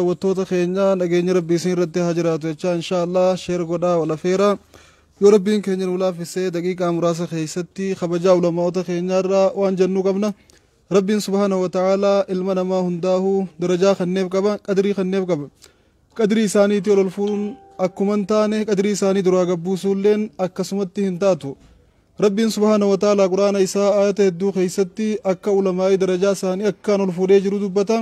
Dawwattoota keenya nageenyi rabbi isin irratti haa jiraatu jechaa inshaa Allah sheer godhaa wal afeera yoo rabbiin keenya nu laafisee daqiiqaa muraasa keessatti kabajaa ulama'oota keenyaa irraa waan jennuu qabna rabbiin subhaanahu wa ta'aala ilma namaa hundaahu darajaa kanneef qaba qadrii kanneef qaba qadrii isaaniitii ol ol fuudhuun akkuma hin taane qadrii isaanii duraa gabbuusuulleen akkasumatti hin taatu rabbiin subhaanahu wa ta'aala quraana isaa aayata hedduu keessatti akka ulamaa'ii darajaa isaanii akkaan ol fuudhee jiru dubbata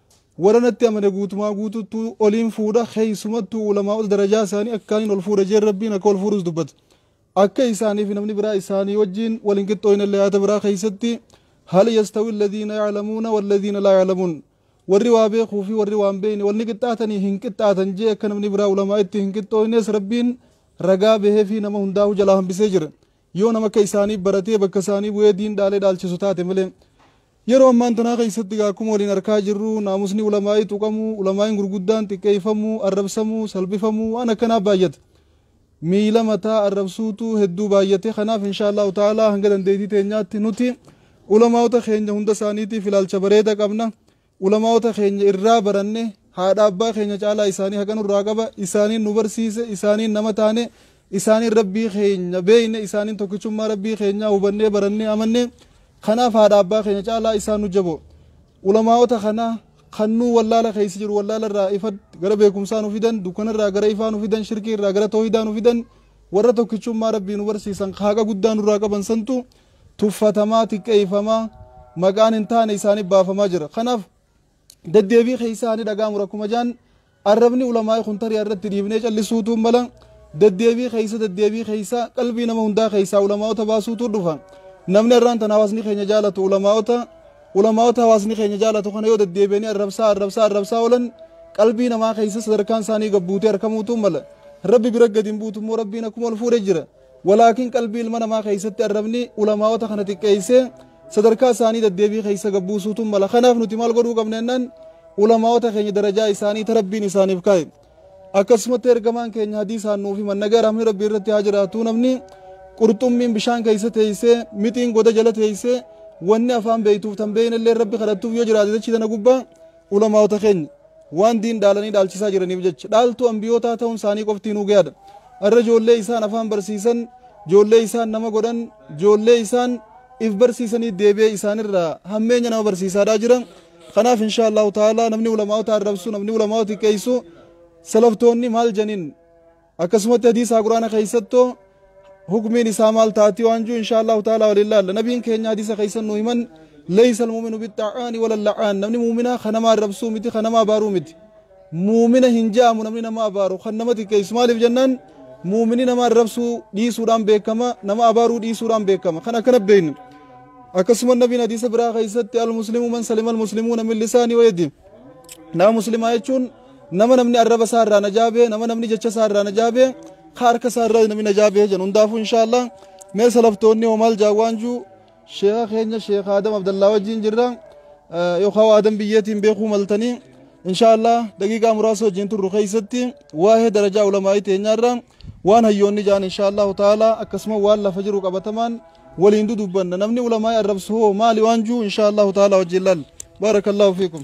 Warra natti amane guutumaa guutuutti oliin fuudha, keessumattuu ulamaa'ota darajaa isaanii akkaaniin ol fuudhe jeen Rabbiin akka ol fuudhus dubbate. Akka isaanii fi namni biraa isaanii wajjiin wal hin qixxooynellee aayata biraa keessatti, Hal yastawi alladhiina ya'lamuuna walladhiina laa ya'lamuun. Warri waa beekuu fi warri waa hin beekne wal ni qixxaatanii? Hin qixxaatan jee akka namni biraa ulamaa'itti hin qixxooynes Rabbiin ragaa bahee fi nama hundaahuu jalaa hambisee jira. Yoo nama akka isaanii baratee bakka isaanii bu'ee diin dhaalee dhaalchisu taate malee. Yeroo ammaan tanaa keessatti egaa akkuma waliin arkaa jirru naamusni ulamaa'ii tuqamuu, ulamaa'iin gurguddaan xiqqeeffamuu, arrabsamuu, salphifamuu waan akkanaa baayyate. Miila mataa arrabsuutu hedduu baayyate. Kanaaf inshaa Allaahu ta'aalaa hanga dandeettii teenyaatti nuti ulamaa'ota keenya hunda isaaniitiif ilaalcha bareeda qabna. Ulamaa'ota keenya irraa baranne, haadha abbaa keenya caalaa isaanii haqa nurraa qaba, isaaniin nu barsiise, isaaniin nama taane, isaaniin Rabbii keenya beekne, isaaniin tokkichummaa Rabbii keenyaa hubannee barannee amanne, kanaaf haadha abbaa keenya caalaa isaan nu jaboo. Ulamaa'ota kana kan nuu wallaala keessa jiru wallaala irraa ifa gara beekumsaa nu fidan, dukkana irraa gara ifaa nu fidan, shirkii irraa gara toohidaa nu fidan, warra tokkichummaa Rabbii nu barsiisan ka haqa guddaa nurraa qaban santu, tuffatamaa, xiqqeeyfamaa, maqaan hin taane isaaniif baafamaa jira. Kanaaf deddeebii keeysaa haa ni dhaga'amu rakkuma jaan arrabni ulamaa'i kun tarii irratti dhiifnee callisuutuu mala deddeebii keeysa deddeebii keeysa qalbii nama hundaa keeysaa ulamaa'ota baasuutuu dhufa. Namni arraan tan hawaasni keenya jaalatu ulamaa'ota ulamaa'ota hawaasni keenya jaalatu kana yoo deddeebi'anii arrabsaa arrabsaa arrabsaa oolan qalbii namaa keeysa sadarkaan isaanii gabbuutee arkamuutuu mala. Rabbi bira gadi hin buutu immoo rabbiin akkuma ol fuudhe jira. Walaakin qalbii ilma namaa keessatti arrabni ulamaa'ota kana xiqqeessee sadarkaa isaanii daddeebii keessa gad buusuutu mala. Kanaaf nuti maal godhuu qabna jennaan ulamaa'ota keenya darajaa isaanii ta Rabbiin isaaniif kaa'e. Akkasumatti ergamaan keenya hadiisaan nuuf himan nagaa rahmni Rabbii irratti haa jiraatu namni qurxummiin bishaan keessa teessee mixiin goda jala teessee wanni afaan beektuuf tan beeknellee Rabbi kadhattuuf yoo jiraate dachii tana gubbaa Ulamaa'ota keenya waan diin dhaalanii dhaalchisaa jiraniif jecha dhaaltuu anbiyootaa ta'uun isaanii qofti nuu gayaadha. Arra joollee isaan afaan barsiisan, joollee isaan nama godhan, joollee isaan if barsiisanii deebi'ee isaanirraa hammeenya nama barsiisaadhaa jira. Kanaaf inshaa Allahu ta'aalaa namni ulamaa'ota arrabsu, namni ulamaa'ota xiqqeessu salaftoonni maal janiin Akkasumatti hadiisaa quraana keessatto hukmiin isaa maal taati waan jiru inshaa Allahu ta'ala waliin laalla. Nabiin keenya hadiisa keessan nu himan leeysa almuuminu bixxa'aani wala la'aan namni muuminaa kan namaa rabsuu miti kan namaa baaruu miti. Muumina hin ja'amu namni nama abaaru kan nama xiqqeessu maaliif jennaan muumini nama rabsuu dhiisuudhaan beekama nama abaaruu dhiisuudhaan beekama kan akkana beeknu. Akkasuma nabiin hadiisa biraa keessatti al muslimu man salima al muslimuuna min lisaanii wayadi. Nama muslimaa jechuun Nama namni arraba isaa irraa najaa bee, nama namni jecha isaa irraa najaa bee, ka harka isaa irraa namni najaa bee jedhan hundaafuu inshaallah mee salaftoonni hoo maal jaa waan juu sheeka keenya sheeka Adam Abdallaa wajjin jirra Eh, yookaan waa Adam biyyeetiin beekuu maltanii inshaallah daqiiqaa muraasa wajjin turru keessatti waa'ee darajaa ulamaa'ii teenyaarra waan hayyoonni jaan inshaallah ta'ala akkasuma waan lafa jiru qabatamaan waliin dudubbanna namni ulamaa'ii arrabsu hoo maali waan juu inshaallah ta'ala wajjin laal baarakallahu fiikum.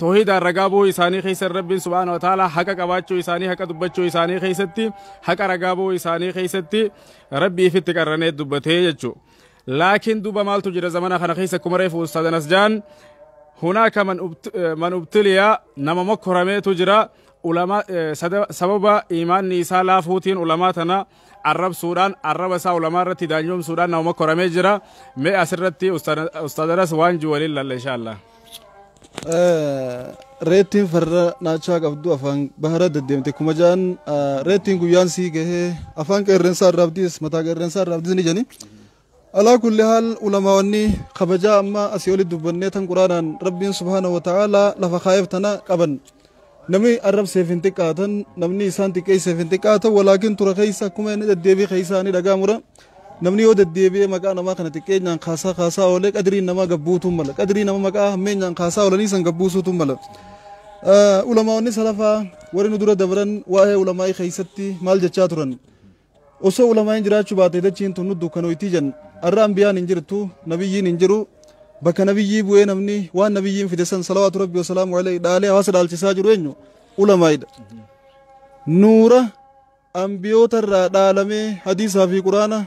toohidaan ragaa ba'uu isaanii keessatti rabbiin subhaana wa ta'ala haqa qabaachuu isaanii haqa dubbachuu isaanii keessatti haqa ragaa ba'uu isaanii keessatti rabbii ifitti qarranee dubbatee jechuu laakiin duuba maaltu jira zamana kana keessa akkuma reefu ustaadan asjaan hunaaka man ubtiliya nama mokkorameetu jira ulama sababa imaanni isaa laafuutiin ulamaa tana arrabsuudhaan arraba isaa ulamaa irratti daanyoomsuudhaan nama mokkoramee jira mee asirratti ustaadanas waan jiwaliin lalla inshaallah Reettiin farra naachaa qabdu afaan bahara deddeemte kuma ja'an reettiin guyyaan sii gahee afaan qeerrensaa irraa abdiis mataa qeerrensaa irraa abdiis ni jedhani. Alaa kulli haal ulamaawwanni kabajaa amma asii oli dubbannee tan quraanaan rabbiin subhaanahu wa ta'aalaa lafa kaa'eef tana qaban. Namni arrabseef hin xiqqaatan, namni isaan xiqqeesseef hin xiqqaatan, walaakin tura keessa akkuma inni deddeebii keessaa ni dhaga'amura. Namni yoo deddeebi'ee maqaa namaa kana xiqqeenyaan kaasaa kaasaa oolee qadriin namaa gad buutuu mala. Qadrii nama maqaa hammeenyaan kaasaa oolanii san gad buusuutu mala. Ulamaa'onni salafaa warri nu dura dabran waa'ee ulamaa'ii keessatti maal jechaa turan? Osoo ulamaa'in jiraachuu baate dachiin tun nu dukkanoyti jan. Arra anbiyaan hin jirtu, nabiyyiin hin jiru. Bakka nabiyyii bu'ee namni waan nabiyyiin fide san salawaatu rabbi wasalaamu alayhi dhaalee hawaasa dhaalchisaa jiru eenyu? Ulamaa'idha. Nuura anbiyoota irraa dhaalamee hadiisaa fi quraana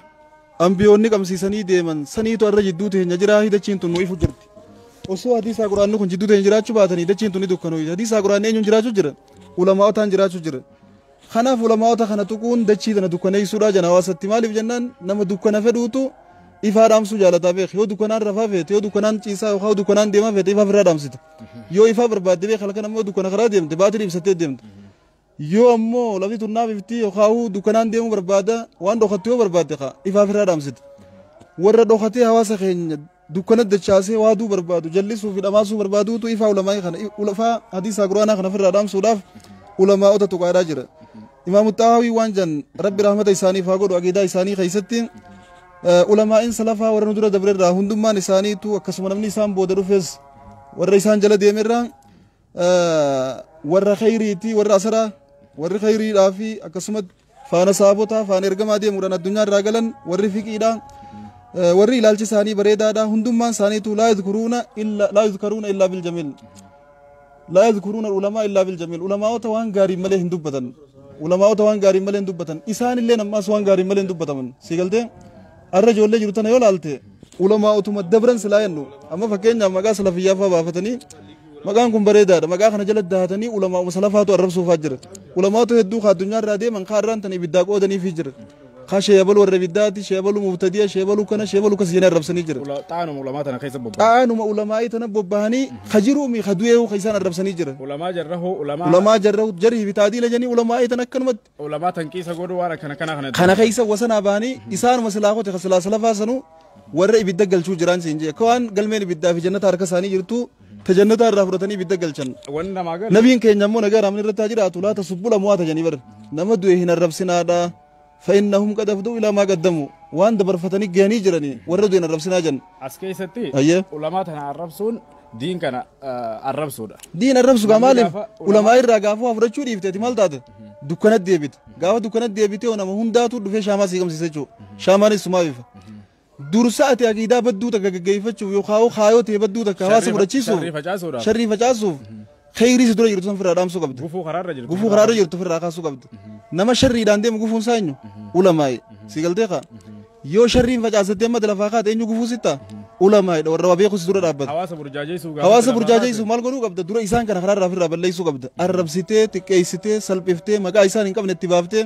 anbiyoonni qabsiisanii deeman saniitu arra jidduu teenya jiraa dachiin tun nu ifu jirti. Osoo hadiisaa quraanni kun jidduu teenya jiraachuu baatanii dachiin tun ni dukkanoyti. Hadiisaa quraanni eenyuun jiraachuu jira? Ulamaa'otaan jiraachuu jira. Kanaaf ulamaa'ota kana tuquun dachii tana dukkaneessuudha jedhan hawaasatti. Maaliif jennaan nama dukkana fedhuutu ifaa dhaamsuu jaalataa beeki. Yoo dukkanaan rafaa feete, yoo dukkanaan ciisaa yookaan yoo dukkanaan deemaa feete ifaa ofirraa dhaamsita. Yoo ifaa barbaadde beeki halkan ammoo dukkana karaa deemte baatirii ibsattee deemta. Yoo ammoo lafti tun naaf ifti yookaan dukkanaan deemuu barbaada waan dhokattu yoo barbaadde kaa ifaa ofirraa dhaamsita. Warra dhokatee hawaasa keenya dukkana dachaasee waaduu barbaadu, jallisuu fi dhamaasuu barbaaduutu ifaa ulamaa'ii kana, ulafaa hadiisaa quraanaa kana ofirraa dhaamsuudhaaf ulamaa'ota tuqaadhaa jira. Imaamu Xahaawii waan jan Rabbi rahmata isaaniif haa godhu aqiidaa isaanii keessatti ulamaa'iin salafaa warra nu dura dabrerraa hundummaan isaaniitu akkasuma namni isaan booda dhufes warra isaan jala deemerraa warra khayriiti warra asaraa warri khayriidhaa fi akkasumas faana saabotaa faana ergamaa deemuudhaan addunyaa irraa galan warri fiqiidha warri ilaalchi isaanii bareedaadha hundummaan isaaniitu laa yadkuruuna illa laa yadkaruuna illaa bil jamiil laa yadkuruuna ulamaa illaa bil jamiil ulamaa'ota waan gaariin malee hin dubbatan ulamaa'ota waan gaariin malee hin dubbatan isaan illee ammaas waan gaariin malee hin dubbataman si galtee Har'a ijoollee jiru tana yoo ilaalte ulamaa utuma dabran silaa jennu amma fakkeenyaaf maqaa salafiyyaa fa'aa baafatanii maqaan kun bareedaadha maqaa kana jala dahatanii ulamaa uma salafaatu arrabsuufaa jira ulamaatu hedduu ka addunyaa irraa deeman ka irraan tan ibiddaa qoodaniifii jira ka sheebalu warra ibiddaati sheebalu mubtadiya sheebalu kana sheebalu kas jenee arrabsanii jira Xaanuma ulamaa tana keessa bobba'a. xaanuma ulamaa'ii tana bobbahanii ka jiruumi ka du'eehu ka isaan arrabsanii jira Ulamaa jarrahoo ulamaa. ulamaa jarra jarhi bitaadii lajanii ulamaa'ii tan akkanumatti ulamaa tanqiisa godhu waan akkana kana kana kana keessa wasanaa ba'anii isaanuma silaa kote ka silaa salafaa sanuu warra ibidda galchuu jiraan siin jee akka waan galmeen ibiddaa fi jannataa harka isaanii jirtu ta jannataa irraa fudhatanii ibidda galchan wanni namaa galu nabiin keenya immoo nagaa raamni irratti haa jiraatu laata subbula mo'ata janii bar nama du'e hin arrabsinaadha fa'innahum qad afduu ilaa maa qaddamu waan dabarfatanii gahanii jiranii warra du'e hin arrabsinaa jan as keessatti Ayyee. ulamaa tana arrabsuun diin kana arrabsuudha. Diin arrabsu gaa maaliif ulamaa irraa gaafuu haa fudhachuu dhiifte ati maal taate dukkanatti deebite gaafa dukkanatti deebite yoo nama hundaatu dhufee shaamaa sii qabsiisa jechuudha shaamaanis sumaa bifa. Dursa ati aqiidaa badduu takka gaggeeffachuuf yookaan kaayoo ta'e badduu takka hawaasa fudhachiisuuf sharrii facaasuuf Kheyrii si dura jirtu san firraa dhaamsuu qabda. Gufuu karaarra jirtu. Gufuu karaarra jirtu firraa kaasuu qabda. Nama sharriidhaan deemu gufuun isaa eenyu? Ulamaa'i. Si galtee kaa? Yoo sharriin facaasattee amma lafaa kaate eenyu gufuu sitta? Ulamaa'idha warra waa beeku si dura dhaabbata. Hawaasa burjaajeessuu gaafa Hawaasa lafaa burjaajeessu kaase. maal godhuu qabda? Dura isaan kana karaarraa firraa balleessuu qabda. Arrabsitee, xiqqeessitee, salphiftee, maqaa isaan hin qabne itti baaftee,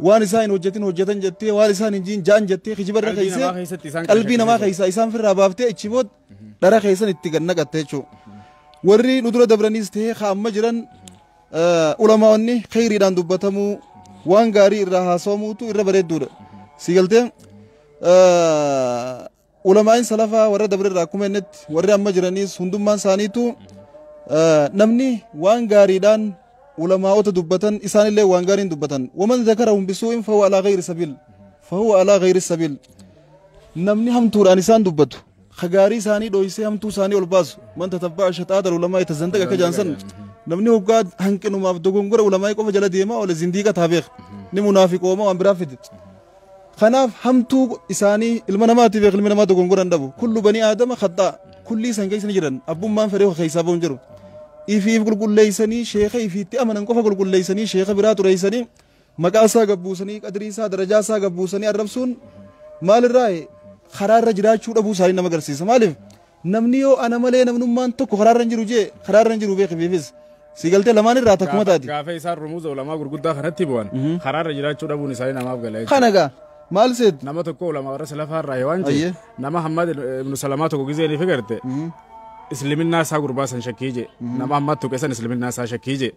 waan isaan hin hojjetin hojjetan jettee, waan isaan hin jiin jaan jettee, kijibarra Qalbii keessee, namaa keessatti isaan qalbii namaa keessatti keessaa isaan firraa baaftee, ichi booda dhara keessan itti gad naqatte jechuu warri nu dura dabraniis ta'ee ka amma jiran ulamaa'onni kheyriidhaan dubbatamuu waan gaarii irraa haasawamuutu irra bareedduudha si galtee ulamaa'in salafaa warra dabre irraa akkuma jennetti warri amma jiraniis hundummaan isaaniitu namni waan gaariidhaan ulamaa'ota dubbatan isaanillee waan gaariin dubbatan waman zakarahum bisuu'in fahuwa alaa gayri sabiil fahuwa alaa gayri sabiil Namni hamtuudhaan isaan dubbatu, ka gaarii isaanii dhooysee hamtuu isaanii ol baasu, man tatabba'a shaxaata ulamaa'i tazandaq akka jaan san, namni hoggaa hanqinumaaf dogongora ulamaa'i qofa jala deemaa oole zindiiqa taa beeka, ni munaafiqooma waan biraa fide. Kanaaf hamtuu isaanii ilma namaati beeka ilmi namaa dogongora hin dhabu. Kullu banii aadama khaxxaa, kullii san keessa ni jiran, abbummaan fedhee ka keessaa ba'u hin jiru. Ifiif qulqulleeysanii sheeka ifiitti amanan qofa qulqulleeysanii sheeka biraa xureeysanii Maqaa isaa gad buusanii, qadrii isaa, darajaa isaa gad buusanii arrabsuun maalirraayi? Karaa irra jiraachuu dhabuu isaanii nama agarsiisa. Maaliif? Namni yoo ana malee namnummaan tokko karaa irra hin jiru jee karaa irra hin jiru beekifiifis. Si galtee lamaan irraa takkuma taati. Gaafa isaan rumuuza ulamaa gurguddaa kanatti bu'an karaa irra jiraachuu dhabuun isaanii namaaf gala jechuudha. Kana gaa maal seetu? Nama tokko ulamaa warra salafaa irraa waan jee Ayyee. nama Hammad ibnu Salamaa tokko gizee ni figarte. Isliminnaa isaa gurbaa san shakkii jee. Nama Hammad tuqe san isliminnaa isaa shakkii jee.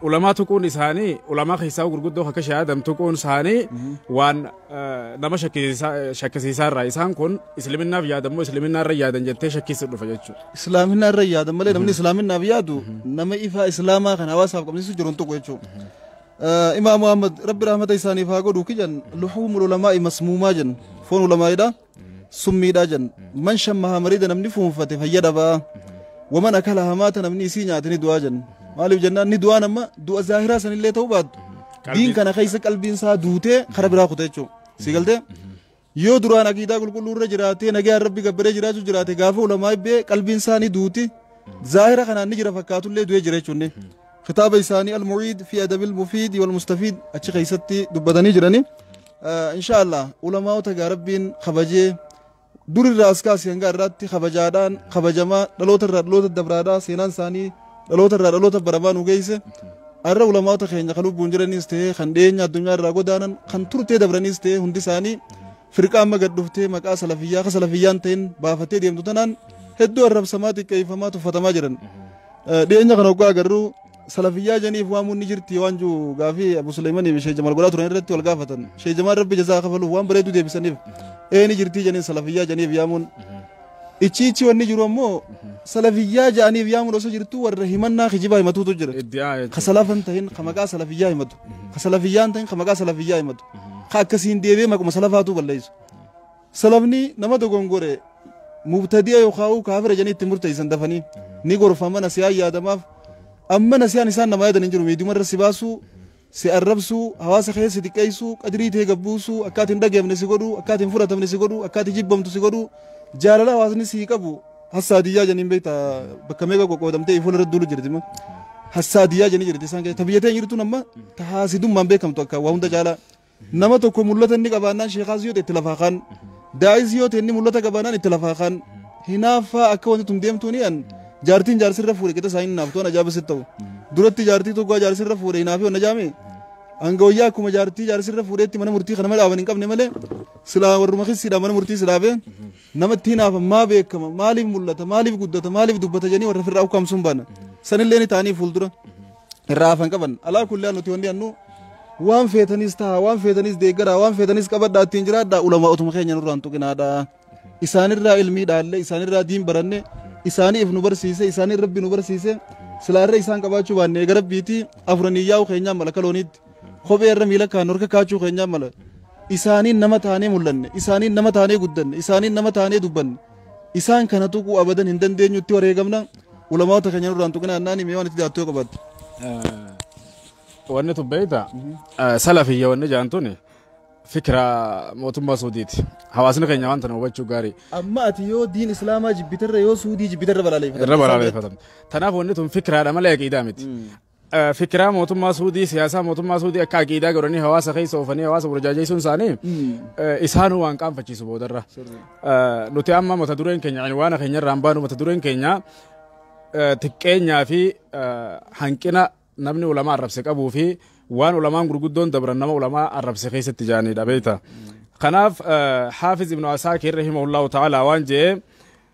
ulamaa tuquun isaanii ulamaa keessaa gurguddoo akka Sheikh Adam tuquun isaanii waan nama shakkisiisaa irraa isaan kun islaminaaf yaadammoo islaminaa irra yaadan jettee shakkisuu dhufa jechuudha. Islaaminaa irra yaadan malee namni islaaminaaf yaadu nama ifaa islaamaa kan hawaasaaf qabsiisu jiru hin tuqu jechuudha. Imaam Muhammad rabbi rahmata isaaniif haa godhu kijan luhuumul ulamaa masmuumaa jennu foon ulamaa'idha. summiidha jenna man shammaha marida namni fuunfate fayya dhabaa waman akala hamaata namni isii nyaate ni du'aa jenna maaliif jennaan ni du'aa nama du'a zaahiraa sanillee ta'uu baattu diin kana keessa qalbiin isaa duutee kara biraa kuta jechuudha si galtee yoo duraan aqiidaa qulqulluu irra jiraatee nagaan rabbi gabbaree jiraachuu jiraate gaafa ulamaa ibbee qalbiin isaa ni duuti zaahira kanaan ni jira fakkaatullee du'ee jira jechuun kitaaba isaanii al-mu'iid fi adabil mufiid wal mustafiid achi keessatti dubbatanii jiranii Inshaallah ulamaa'ota gaa rabbiin kabajee durirraa as kaasee hanga irraatti kabajaadhaan kabajamaa dhaloota irraa dhaloota dabraadhaa seenaan isaanii dhaloota irraa dhaloota baramaa nu geesse arra ulamaa'ota keenya kan lubbuun jiraniis ta'ee kan dhiyeenya addunyaa irraa godaanan kan turtee dabraniis ta'ee hundi isaanii firqaa amma gad dhuftee maqaa salafiyyaa akka salafiyyaan ta'in baafattee deemtu tanaan hedduu arrabsamaa xiqqeeffamaa tuffatamaa jiran dhiyeenya kana oggaa agarru salafiyyaa janiif waamuun ni jirti waan jiru gaafii abu suleeymanii fi sheejamal godhaa turan irratti wal gaafatan sheejamaan rabbi jazaa kafaluuf waan bareedu deebisaniif ee ni jirti janiin salafiyyaa janiif yaamuun ichi ichi wanni jiru ammoo salafiyyaa ja'aniif yaamuun osoo jirtu warra himannaa kijibaa himatuutu jira ka salafan tahin ka maqaa salafiyyaa himatu ka salafiyyaan tahin ka maqaa salafiyyaa himatu ka akkasiin deebee maquma salafaatu balleessu Salafni nama dogongore mubtadi'a yookaan kaafira jedhanii itti murteessan dafanii ni gorfama nasiyaan yaadamaaf amma nasiyaan isaan nama yaadan hin jiru miidiyuma irra si baasuu si arrabsuu hawaasa keessa si xiqqeessuu qadrii tee gabbuusuu akka ati hin dhageefne si godhuu akka ati hin fudhatamne si godhuu akka ati jibbamtu si godhuu jaalala hawaasni si qabu hassaadiyyaa janiin beekta bakka meeqa qoqqoodamtee fuula irra duulu jirti ma hassaadiyyaa janii jirti isaan keessa ta biyya tee jirtuun amma ta haasidummaan beekamtu akka waa hunda caalaa Nama tokko mul'ata inni qabaannaan sheekaas yoo ta'e itti lafaa kaan. Daa'is yoo ta'e inni mul'ata qabaannaan itti lafaa kaan. Hinaaffaa akka wanti tun deemtuu ni an jaartiin jaarsirra fuudhe qixa isaa hin hinaaftu an ajaa'ibas sitti ta'u. Duratti jaartii tokko jaarsirra fuudhe hinaafii wanna jaame. Hanga wayyaa akkuma jaartii jaarsirra fuudheetti mana murtii kana mala dhaaban hin qabne malee silaa warruma kissiidhaan mana murtii si dhaabe. Namatti hinaafan maa beekama maaliif mul'ata maaliif guddata maaliif dubbata jedhanii warra firraa ukkaamsuun baana. Sanillee ni ta'anii fuuldura irraa hafan qaban. Alaa kullaa nuti wanni annu waan feetanis ta'a waan feetanis deeggaraa waan feetanis qabadhaa ittiin jiraadhaa ulamaa otuma keenya nurraan tuqinaadhaa. Isaanirraa ilmii dhaalle isaanirraa diin baranne isaanii if nu barsiise isaanii rabbi nu barsiise silaarra isaan qabaachuu baanne eega rabbiitii afuranii yaa'u keenyaan malaka looniitti. Kophee irra miila kaa'annu harka kaa'achuu keenyaa mala. Isaaniin nama taanee mul'anne, isaaniin nama taanee guddanne, isaaniin nama taanee dubbanne. Isaan kana tuquu abadan hin dandeenyu itti wareegamna. Ulamaawota keenya nurraan tuqina annaani mee waan itti daattuu yoo qabaatte. Wanni tun beekta salafiyya wanni jaan tun fikira mootummaa Suudiiti. Hawaasni keenya waan tana hubachuu gaarii. Amma ati yoo diin Islaamaa jibbitarra yoo Suudii jibbitarra balaaleffata. Irra balaaleffatan. Tanaaf wanni tun fikiraadha malee aqiidaa miti. Fikiraa mootummaa Suudii, siyaasaa mootummaa Suudii akka aqiidaa godhanii hawaasa keessa oofanii hawaasa burjaajeessuun isaanii isaanuu waan qaanfachiisu boodarra. Nuti amma mata dureen keenya waan keenya irraan baanu mata dureen keenya xiqqeenyaa fi hanqina namni ulamaa arrabse qabuu fi waan ulamaan gurguddoon dabran nama ulamaa arrabse keessatti jaaniidha beekta. Kanaaf Haafiz Ibnu Asaakir rahimahullahu ta'ala waan jedhee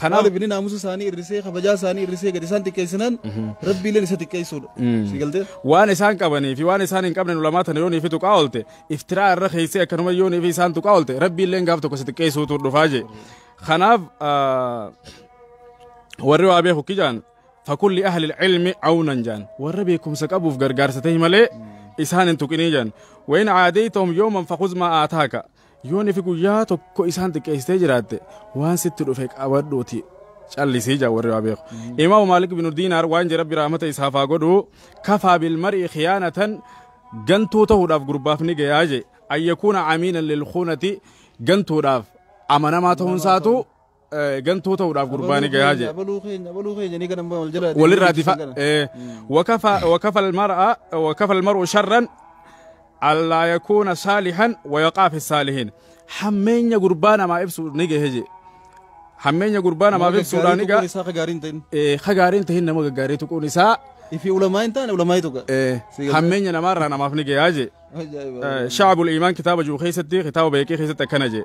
Kanaaf- Maaliif inni naamusa isaanii irrisee, kabajaa isaanii irrisee gadi isaan xiqqeessinaan Rabbiileen isa xiqqeessuudha. Si galtee? waan isaan qabanii fi waan isaan hin qabne ulamaa tana yoonii fi tuqaa oolte iftiraa irra keessee akkanuma yoonii fi isaan tuqaa oolte rabbiilleen gaaf tokko si xiqqeessuutu dhufaa jee kanaaf ah, warri waa beeku kijaan fakulli ahli ilmi awnan jaan warra beekumsa qabuuf gargaarsa ta'e malee isaan hin tuqinii jaan wayin aadeytahum yooman fakuz maa aataaka Yoo nifi guyyaa tokko isaan xiqqeessitee jiraatte waan sitti dhufe qabadhuuti callisii jaa warri waa beeku. Imaamu Maalik binu Diinaar waan jedhe rabbi rahmata isaaf haa godhu kafaa bilmar'i khiyaanatan gantuu ta'uudhaaf gurbaaf ni gayaa je ayyakuuna amiinan lilkuunati gantuudhaaf amanamaa ta'uun isaatu gantoo ta'uudhaaf gurbaani gayaa jee abaluu keenya abaluu keenya ni kana wal jala walirraa difa wakafa wakafa almar'a wakafa almar'u sharran allaa yakuuna saalihan wayaqaa fi saalihin hammeenya gurbaa namaa ibsu ni gahe jee hammeenya gurbaa namaaf ibsuudhaan ni gahe isaa gaariin ta'in ka gaariin ta'in nama gaggaarii tuquun isaa ifi ulamaa hin taane ulamaa tuqa hammeenya namaarraa namaaf ni gayaa jee shaabul iimaan kitaaba jiru keessatti kitaaba beekii keessatti akkana jee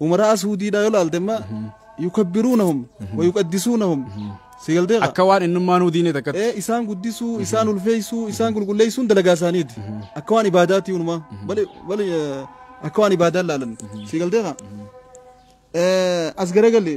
Umaraa suudiidhaa yoo laalte amma yukabbiruunahum wa yuqaddisuunahum si galtee kaa. Akka waan innummaanuu diinee takkatti. Ee isaan guddisuu, isaan ulfeessuu, isaan qulqulleessuun dalagaa isaaniiti. Akka waan ibaadaati unumaa. Bali bali eh, akka waan ibaadaan laalan. Si galtee kaa. Eh, As garagalli.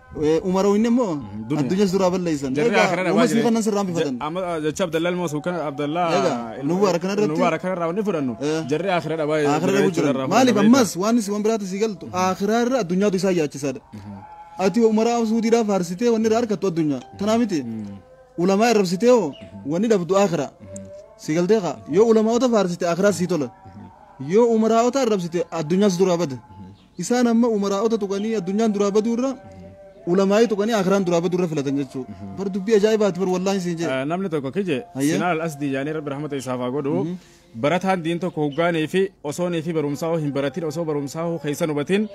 Umaroo inni immoo addunyas duraa balleessan. Jarri Egaa akhiraa dhabaa uumasii jiran. kanan sirraan bifatan. Ja- amma, ah, Jecha Abdallaa ilma Mas'uud kana Abdallaa Egaa, ilma- Nuwwaara kana irratti- Nuwwaara kana irraa wanni fudhannu Eh. jarri akhiraa dhabaa Akhiraa jiran dhabuu jechuudha jiran. irraa Maaliif fudhanna ammas waan isin waan biraatti sii galtu akhiraa irra addunyaatu isaa yaachisaadha. Ati umaraa suudiidhaa faarsitee wanni irraa argattu addunyaa. Tanaa miti. Ulamaa irrabsitee hoo wanni dhabdu akhiraa. Sii galtee kaa yoo ulamaa'ota faarsite akhiraa sii tola. Yoo umaraa'ota irrabsite addunyaas duraa bada. Isaan amma umaraa'ota tuqanii addunyaan duraa baduu irra ulamaa'ii tuqanii akiraan duraa baduu irra filatan jechuu. Bar dubbii ajaa'ibaati bar wallaahi siin jee. Namni tokko kije Hayyee. Sinaan al-Asdii jaanii rabbi rahmata isaaf haa godhu. Barataan diin tokko hoggaanii fi osoo nii fi barumsaa hoo hin baratin osoo barumsaa hoo keessa hin hubatin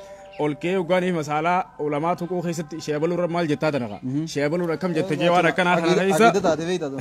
ol ka'ee hoggaanii fi masaalaa ulamaa tuquu keessatti sheebaluu irra maal jettaa tana kaa. Sheebaluun akkam jette jee waan akkanaa kana keessa. Aqiida taate beektaa tun.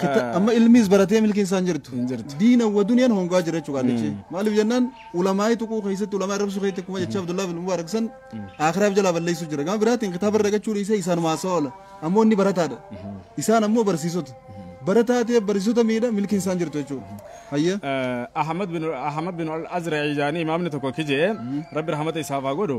Kita- Ah. amma ilmiis baratee milkiin isaan jirtu Hin jirtu. diina wa duniyaan hongaa jira jechuudha qaallichi maaliif jennaan ulamaa'ii tuquu keessatti ulamaa arrabsuu keessatti akkuma jechaa Abdullahi bin Mubaarak san aakiraaf jalaa balleessuu jira gama biraatiin kitaaba irra dhagachuu dhiisee isaan maasaa oola ammoo inni barataadha isaan ammoo barsiisota barataa ta'e barsiisota miidha milkiin isaan jirtu jechuudha hayya Eh, Ahmad bin Ahmad bin Al-Azra'i jaanii imaamni tokko kijee Rabbi rahmata isaaf haa godhu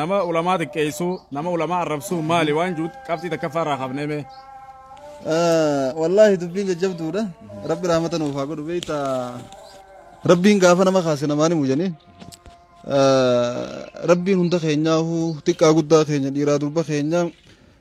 Nama ulamaa xiqqeessuu, nama ulamaa arrabsuu maali waan juut qabxii takkaffaa irraa kaafnee mee. Wallaahi dubbiin jajjabduudha. Rabbi rahmata nuuf haa godhu beekta. Rabbiin gaafa nama kaase namaan himu jedhanii. Rabbiin hunda keenyaa xiqqaa guddaa keenya dhiiraa durba keenyaa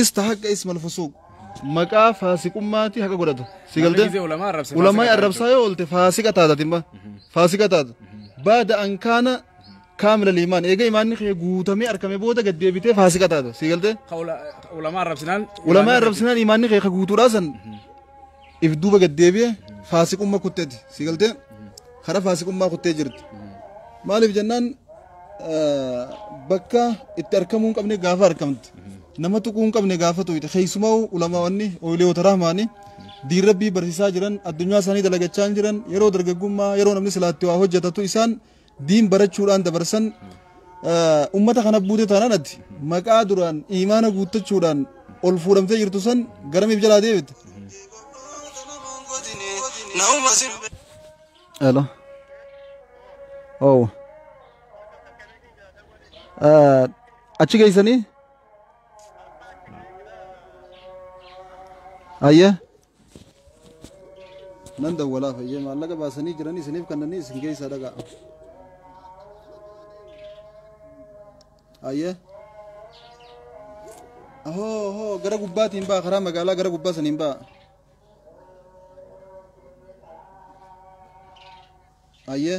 Istahaqqa ismal fusuuq. Maqaa faasiqummaati haqa godhata. Si Namni galtee? gisee ulamaa arrabse Ulamaa faasiqa arrabsaa yoo oolte faasiqa taata timma. Faasiqa taata. Baada an kaana kaamila liimaan. Eega imaanni kee guutamee argame booda gad deebitee faasiqa taata. Si galtee? Ka ula- ka ulamaa arrabsinaan. Ulamaa arrabsinaan imaanni kee ka guutuudhaa san if duuba gad deebi'e faasiqumma kutteeti si galtee kara faasiqummaa kuttee jirti maaliif jennaan eh, bakka itti arkamuu hin qabne gaafa arkamte nama tuquu hin qabne gaafa tuqite keessumaa ulamaawwanni ooyileewota rahmaanii diin rabbii barsiisaa jiran addunyaa isaanii dalagachaa hin jiran yeroo dargaggummaa yeroo namni silaatti waa hojjetatu isaan diin barachuudhaan dabarsan ummata kana buute taanaan ati maqaa duraan imaana guuttachuudhaan ol fuudhamtee jirtu san garamiif jalaa deebite. Hello. Oh. Uh, achi geessanii? Ayyee. nan dawwalaa fayyee maallaqa baasanii jiranii isiniif kannanii isin keessaa dhagaa ayyee ahoo ahoo gara gubbaatiin ba'a karaa magaalaa gara gubbaa saniin ba'a ayyee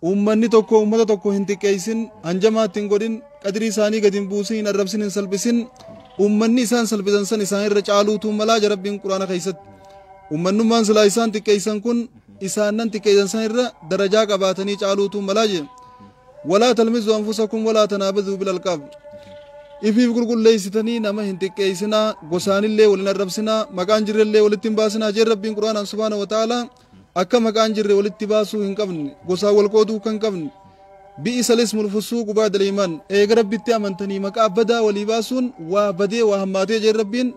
Uummanni tokko uummata tokko hin xiqqeessin, hanjamaa itti hin godhin, qadrii isaanii gad hin buusin, hin arrabsin, hin salphisin. Uummanni isaan salphisan san isaan irra caaluutu malaa ja Rabbiin Qur'aana keessatti. Uummannummaan silaa isaan xiqqeessan kun isaan nan xiqqeessan san irra darajaa qabaatanii caaluutu malaa je. Walaa talmizu anfusakum walaa tanaabazuu bil alqaab. Ifiif qulqulleessitanii nama hin xiqqeessinaa, gosaanillee wal hin arrabsinaa, maqaan jirrellee walitti hin baasinaa jeen Rabbiin Qur'aanaan subhaana wa ta'aalaa. Akka maqaa hin jirre walitti baasuu hin qabne, gosaan wal qooduu kan qabne, bi'isa lismul fusuuqu ba'da liimaan, eega Rabbitti amantanii maqaa badaa walii baasuun waa badee waa hammaatee jeen Rabbiin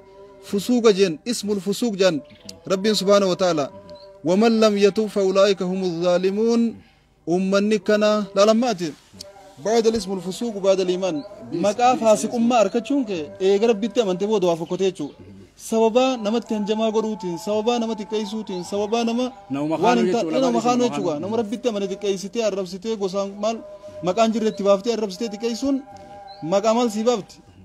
fusuuqa jeen, ismul fusuuq jaan Rabbiin subhaanahu wa ta'aalaa. Waman lam yatub fa ulaa'ika humu zaalimuun Ummanni kana lalamma'ati. Ba'da lismul fusuuqu ba'da liimaan. Maqaa faasiqummaa arkachuun kee eega rabbitti amante booda waa fokkotee jechuu. Sababaa namatti hanjamaa godhuutiin, sababaa nama xiqqeessuutiin, sababaa nama Nama waan hin makaanuu taane, jechuudha, nama maqaan makaanuu isuma jechuudha. Nama rabbitti amane xiqqeessitee, arrabsitee, gosaan maal maqaan jirre itti baaftee arrabsitee xiqqeessuun maqaa maal sii baafti?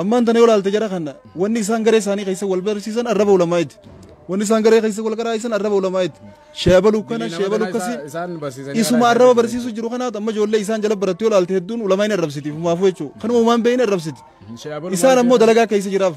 Ammaan tana yoo ilaalte jara kana wanni isaan garee isaanii keessa wal barsiisan arraba ulamaa'iti. Wanni isaan garee keessa wal qaraa'isan arraba ulamaa'iti. Sheebalu kana sheebalu akkasi isuma arraba barsiisu jiru kanaatu amma ijoollee isaan jala barattu yoo ilaalte hedduun ulamaa'in arrabsiti fumaafuu jechuudha. Kanuma umaan beeyin arrabsiti. Isaan ammoo dalagaa keessa jiraaf.